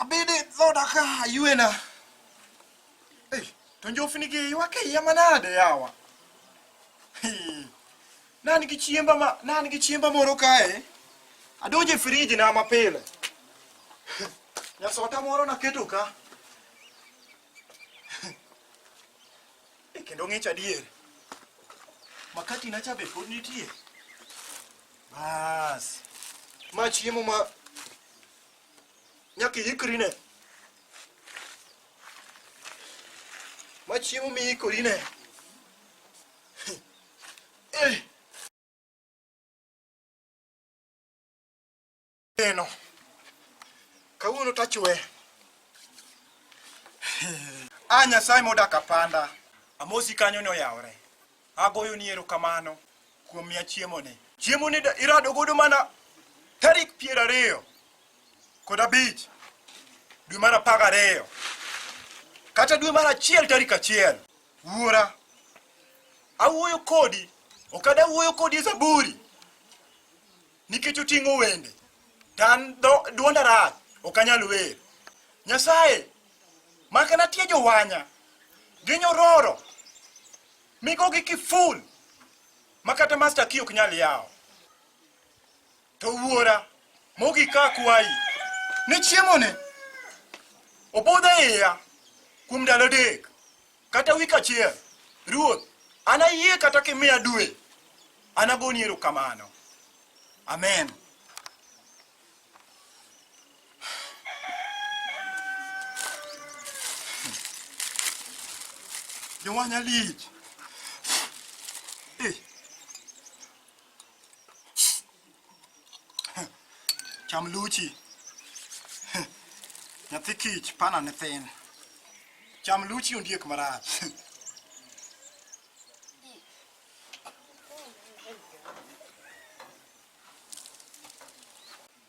Abede dhood aka aywena. Ei, to njofni gi ywak e iya manade yawa. Hii. Nan gi chiemba ma nan gi chiemba moro kae. Adonjo e friji na mapile. Nyasota moro naketo ka. E kendo ng'ich adier. Makati na chabe pod nitie. Bas. Ma chiemo ma nyaka iikri ne. Ma chiemo mi iikori ne. Eh. Eno. Kawuono tachwe. A Nyasaye modak apanda. Amosi kanyo ne oyawore. Agoyo ni erokamano kuom miya chiemoni. Chiemoni irado godo mana tarik piero ariyo kod abich dwe mar apar gariyo kata dwe mar achiel tarik achiel. Wuora, awuoyo kodi, ok adawuoyo kodi e Zaburi. Nikech oting'o wende, to an dwonda rach, ok anyal wer. Nyasaye, maka natie jowanya, ginyororo, migogi kiful, ma kata masta ki ok nyal yawo. To wuora, mogik ka akwayi, ni chiemoni obudh e iya kuom ndalo adek. Kata wik achiel, Ruoth, an ayie kata kimiya dwe, an agoni erokamano. Amen. Jowanya lich. Cham luchi. Nyathi kich pana ne thin. Cham luchi ondiek marach.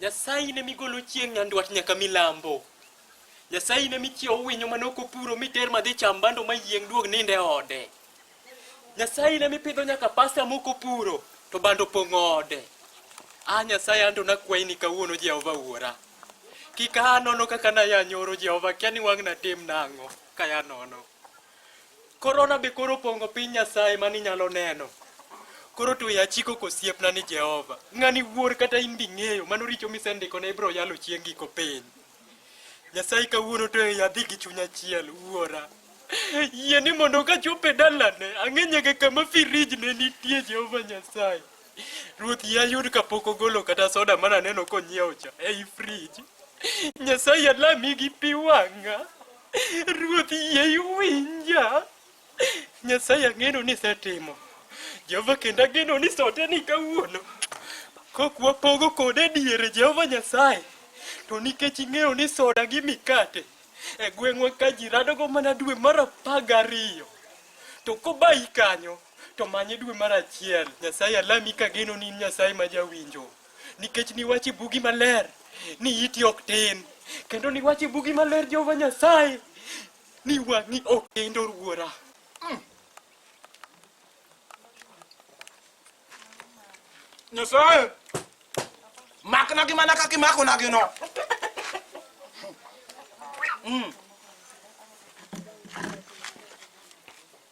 Nyasaye in ema igolo chieng' nyandwat nyaka milambo. Nyasaye in ema ichiewo winyo mane ok opuro miter madhi cham bando mayieng' duog ninde ode. Nyasaye in ema ipidho nyaka pasta mok opuro to bando pong' ode. Ah Nyasaye anto nakwayi ni kawuono Jehova wuora. Kik aa nono kaka naya nyoro Jehova kia ni wang'na tim nang'o kaya nono. Korona be koro opongo piny Nyasaye mani nyalo neno. Koro to ya chiko kosiepna ni Jehova. Ng'ani wuor kata in bi ng'eyo mano richo misendiko ne ibro yalo chieng' giko piny. Nyasaye kawuono to ya dhi gi chunya chiel wuora. Yie ni mondo ka chope dalane ang'enye ga kama firij ne nitie Jehova Nyasaye. Ruoth ya yud ka pok ogolo kata soda mana neno konyiewo cha ei frij. Nyasaye alami gi pi wang'a. Ruoth yie iwinja. Nyasaye ang'eno ni isetimo. Jehova kendo ageno ni sote ni kawuono. Kok wapogo kode diere Jehova Nyasaye. To nikech ing'eyo ni soda gi mikate e gweng'wa ka ji radogo mana dwe mar apar gariyo. To kobayi kanyo to manye dwe mar achiel. Nyasaye alami kageno ni in Nyasaye ma jawinjo. nikech niwache bugi maler ni iti ok tin kendo niwache bugi maler jehova nyasaye ni wang'i ok kendo ruora mm. nyasaye makna gi mana kaka imakona gi no mm.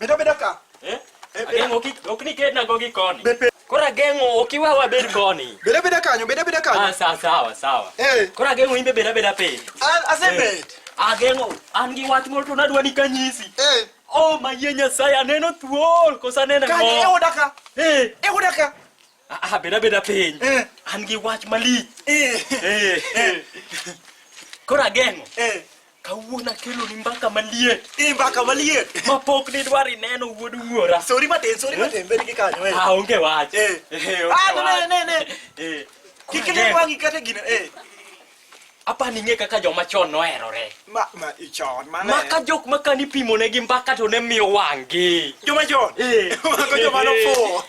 Bedo bedo ka. Eh? Ageng'o kik ok ni kedna go gi koni. Koro ageng'o ok iwe wabed koni. Bedo bedo kanyo, bedo bedo kanyo. Ah, sawa sawa sawa. Eh. Koro ageng'o imbe bedo bedo piny. An asebed. Ageng'o an gi wach moro to nadwa ni kanyisi. Eh. Oh, mayie Nyasaye aneno thuol kosa neno. Kanyo e odaka. Eh. E odaka. Ah, ah, beda beda piny. Eh. An gi wach malich. Eh. Eh. eh. Koro ageng'o. Eh. Kawuono akelo ni mbaka maliet. Eh, mbaka maliet. Ma pok ni dwar ineno wuod wuora. Sori matin, sori eh? matin, bed gi kanyo. Eh. Ah, onge wach. Eh. eh ah, ne ne ne. Eh. Kikile wangi kata gina. Eh. apa ni ng'e kaka joma chon noherore ma ma ichon ma ma ka jok ma kani pimo ne gi mbaka to ne miyo wang'gi joma chon Eh. mago joma nofuwo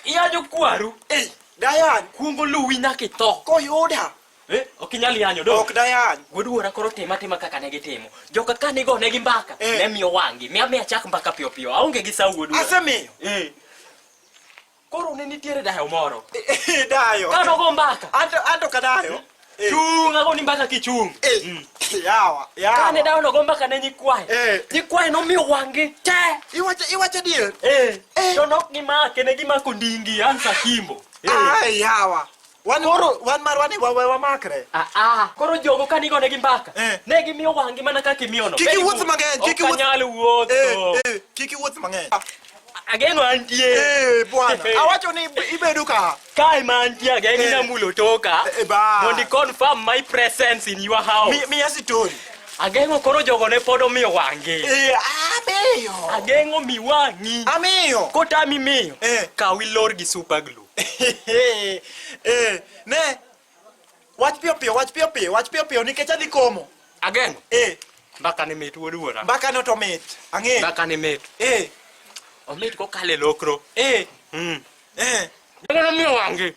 iya jokwaru Ei, dayan kuongo luwi nyaka itho koyuda Eh, ok inyal yanyo do ok dayan wuoduora koro tim atima kaka ne gitimo joka ka nigo ne gi mbaka Eh. ne miyo wang'gi miya miya chak mbaka piyo piyo aonge gi sa wuoduora asemiyo Eh, Koro ne nitiere dayo moro. Eh, dayo. Ka nogo mbaka. Anto anto ka dayo. Eh. Chung ago ni mbaka kichung. Eh. Mm. Yawa, yawa. Ka ne dayo nogo mbaka ne nyikwae. Eh. Nyikwae no mi wangi te. Iwacho iwacho dier. Eh. eh. To nok gi make ne gi mako ndingi ansa kimbo. Eh. Ah, yawa. Wan oro wan marwa ni wawe wamakre. Ah ah. Koro jogo ka nigo ne gi mbaka. Eh. Ne gi miyo wangi mana kaka imiyo no. Kiki wuoth mang'eny, kiki wuoth. Okanyal wuoth. Eh, eh, kiki wuoth mang'eny. Ah, ageno antie. Eh, bwana. Awacho ni ibedo ka. Kai ma antie ageno eh. inamulo toka. Eh, eh ba. Mondi confirm my presence in your house. Mi, mi asitori. Ageng'o koro jogo ne pod omiyo wang'i. Eh, amiyo. Ageng'o mi wang'i. Amiyo. Kotami miyo. Eh. Kaw ilor gi super glue. Eh, ne. Wach piyo piyo, wach piyo piyo, wach piyo piyo nikech adhi komo. Ageng'o. Eh. Mbaka ni mit wuod wuora. Mbaka no to mit. Ang'e. Mbaka ni mit. Eh. Omit ko kale lokro. Eh. Mm. Eh. Ndio ndio wangi.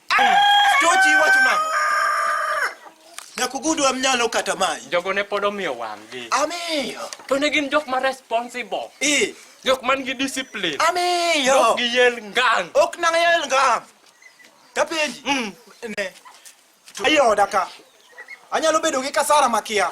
Tochi wacho nang'o? Nyaka ugud wa mnyalo kata mayi. Jogo ne pod omiyo wang'gi. Amiyo. To ne gin jok ma responsible. Ee. Jok man gi discipline. Amiyo. Ok giyel ngang'. Ok nang' yel ngang'. Tapenji. Mm. Ne. Ayoda ka. Anyalo bedo gi kasara makia.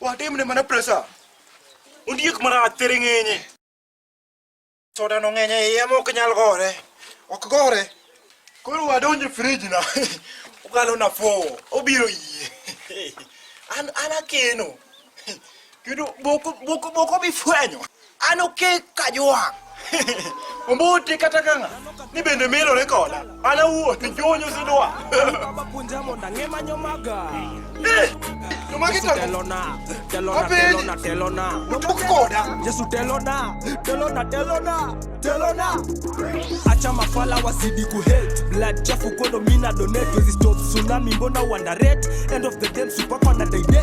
Watim ne mana presa. Ondiek mana atere ng'enye. Soda no ng'enye iye ma ok nyal gore. Ok gore. Koro wadonjo e frij na. Ukalo na fo. Obiro yie. An an akeno. Kendo boko boko boko bifwenyo. An okek ka ywak. Ombuti kata kanga ni bende milore koda. An awuo ni jonyo sidwa. Baba punja mondo ang'e manyo maga. Eh, to magi tango. Telona, telona, Apenji. telona, telona. Otuk koda. Yesu telona, telona, telona, telona. Acha mafala wasidi ku hate. Blood chafu kodo mina donate. Wezi stop tsunami mbona wonder rate. End of the game super kwana date.